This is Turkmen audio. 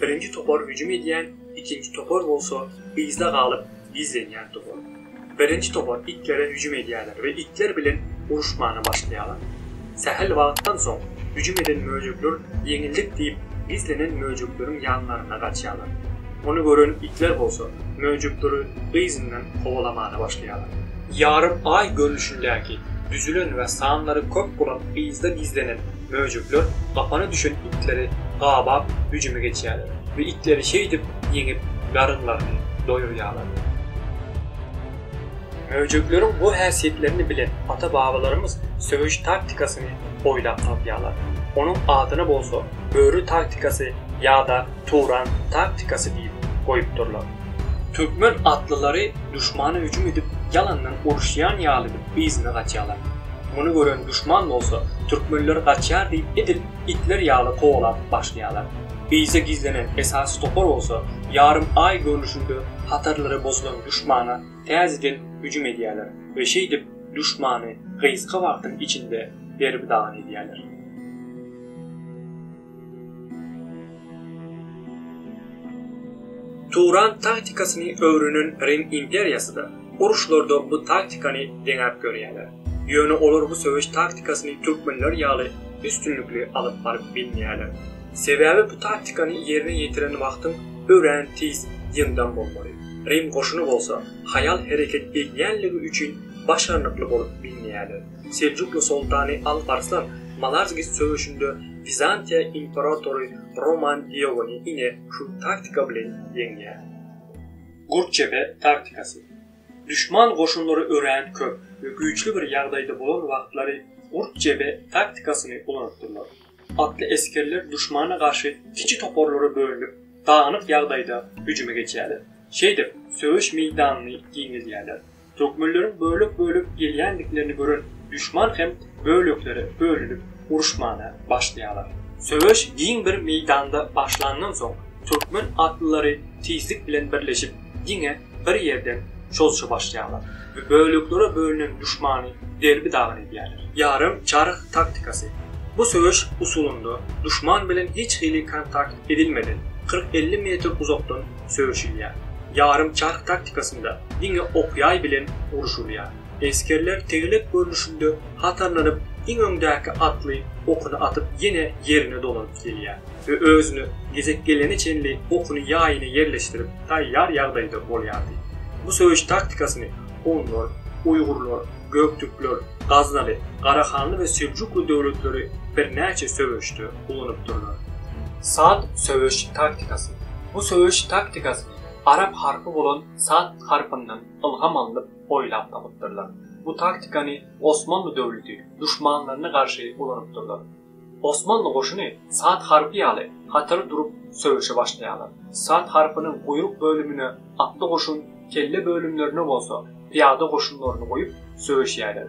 Birinji topar hüjüm edýän, ikinji topar bolsa yzda galyp gizlenýän topar. Birinji topar itlere hüjüm edýärler we itler bilen uruşmana başlaýarlar. Sähel wagtdan soň hüjüm eden möjekler ýeňildik diýip gizlenen möjekleriň ýanlaryna gaçýarlar. Ony gören itler bolsa möjekleri yzyndan kowalamana başlaýarlar. Ýarym aý görnüşindäki, düzülen we sanlary köp bolan yzda gizlenen Möjekler gapana düşen itleri gabap hüjüme geçýärler we itleri şeýdip ýeňip, garynlaryny doýurýarlar. Möjekleriň bu häsiýetlerini bilen ata-babalarymyz söweş taktikasyny oýlap tapýarlar. Onuň adyna bolsa Böri taktikasy ýa-da Turan taktikasy diýip goýupdyrlar. Türkmen atlylary duşmana hüjüm edip ýalandan uruşýan ýalydyr. yzyna gaçýarlar. Muny gören duşman bolsa, türkmenler gaçýar diýip edil itler ýaly kowalap başlaýarlar. Yza gizlenen esasy topar bolsa, ýarym aý görnüşinde hatarlary bozulan duşmana täzeden hüjüm edýärler we şeýdip duşmany gysga wagtyň içinde derbi-dagyn edýärler. Turan taktikasyny öwrenen Rim imperiýasy-da, uruşlarda bu taktikany deňäp görýärler. Ýöne olar bu söweş taktikasyny türkmenler ýaly üstünlikli alyp baryp bilmeýärler. Sebäbi bu taktikany ýerine ýetiren wagtyň örän tiz, ýyndam bolmaly. Rim goşuny bolsa haýal hereket edýänligi üçin başarnykly bolup bilmeýärler. Seljukly soltany Alp Arslan Malazgirt söweşinde Wizantiýa imperatory Roman Diogony ine şu taktika bilen ýeňýär. Gurtjepe taktikasy. Duşman goşunlary örän köp we güýçli bir ýagdaýda bolan wagtlary Gurtjepe taktikasyny ulanypdyrlar. Atly esgerler duşmana garşy kiçi toparlara bölünip, dagynyk ýagdaýda hüjüme geçýärler. Şeýdip, söweş meýdanyny giňeldýärler. Türkmenleriň bölek-bölek gelýändiklerini gören duşman hem böleklere bölünip uruşmana başlaýarlar. Söweş giň bir meýdanda başlandan soň, türkmen atlylary tizlik bilen birleşip, diňe bir ýerden çozşa başlaýarlar we böleklere bölünen duşmany derbi-dagyn edýärler. Ýarym çarh taktikasy. Bu söweş usulynda duşman bilen hiç hili kontakt edilmeden, kyrk-elli metr uzakdan söweşilýär. Ýarym çarh taktikasynda diňe ok-ýaý bilen urşulýar. Esgerler tegelek görnüşinde hatarlanyp, iň öňdäki atly okuny atyp ýene ýerine dolanyp gelýär we özüne gezek gelene çenli okuny ýaýyna ýerleşdirip taýýar ýagdaýda bolýardy. Bu söweş taktikasyny hunlar, uýgurlar, göktürkler, gaznaly, garahanly we seljukly döwletleri birnäçe söweşde, ulanypdyrlar. Sad söweş taktikasy. Bu söweş taktikasyny arap harpy bolan sad harpyndan ylham alnyp oýlap tapypdyrlar. Bu taktikany Osmanly döwleti duşmanlaryna garşy ulanypdyrlar. Osmanly goşuny sad harpy ýaly hatar durup söweşe başlaýarlar. Sad harpynyň guýruk bölümine atly goşun, kelle bölümlerine bolsa pyýada goşunlaryny goýup söweşýärler.